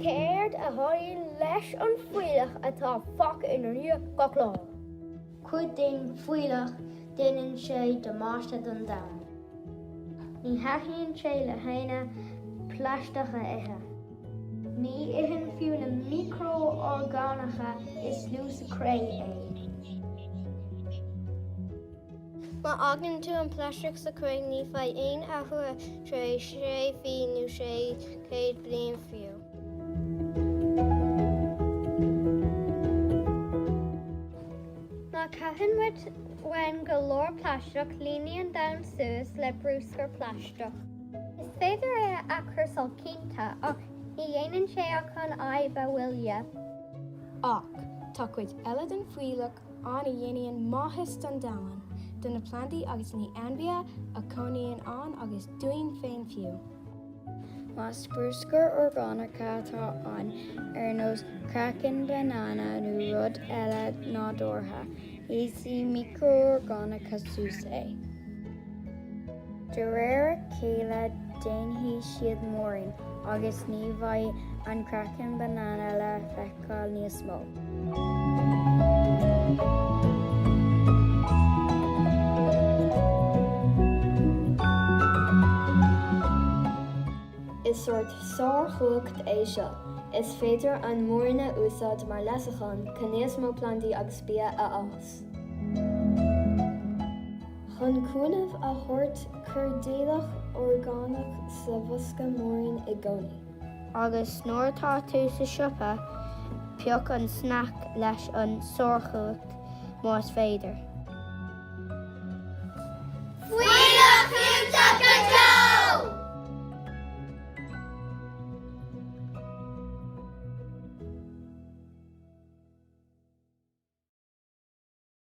Céard a tharlaíonn leis an fuílleach atá fágtha ina dhiaidh gach lá? Cuid den fuílleach, déanann sé damáiste don domhan. Ní thaitníonn sé le héinne plaisteach a ithe. Ní itheann fiú na miocrorgánacha is lú sa chré é. Má fhágann tú an plaisteach sa chré ní bheidh aon athrú air tar éis sé mhí nó 600 bliain fiú. Má caitheann muid uainn go leor plaisteach líonann an domhan suas le brúscar plaisteach. Is féidir é a athchúrsáil cinnte ach ní dhéanann sé ach an fhadhb a mhoilliú. Ach tá cuid eile den fuílleach ann a dhéanann maitheas don domhan, do na plandaí agus na hainmhithe a chónaíonn ann agus dúinn féin fiú. Más brúscar orgánacha atá ann, ar nós craiceann banana nó rud eile nádúrtha, íosfaidh miocrorgánacha suas é. De réir a chéile déanfaidh siad múirín agus ní bheidh an craiceann banana le feiceáil níos mó. Is sórt sárchumhacht é seo, is féidir an múirín a úsáid mar leasachán chun níos mó plandaí agus bia a fhás. Chun cúnamh a thabhairt, cuir d'fhuílleach orgánach sa bhosca múirín i gcónaí. Agus nuair atá tú sa siopa, pioc an sneaic leis an sárchumhacht más féidir. Fuílleach fiúntach go deo!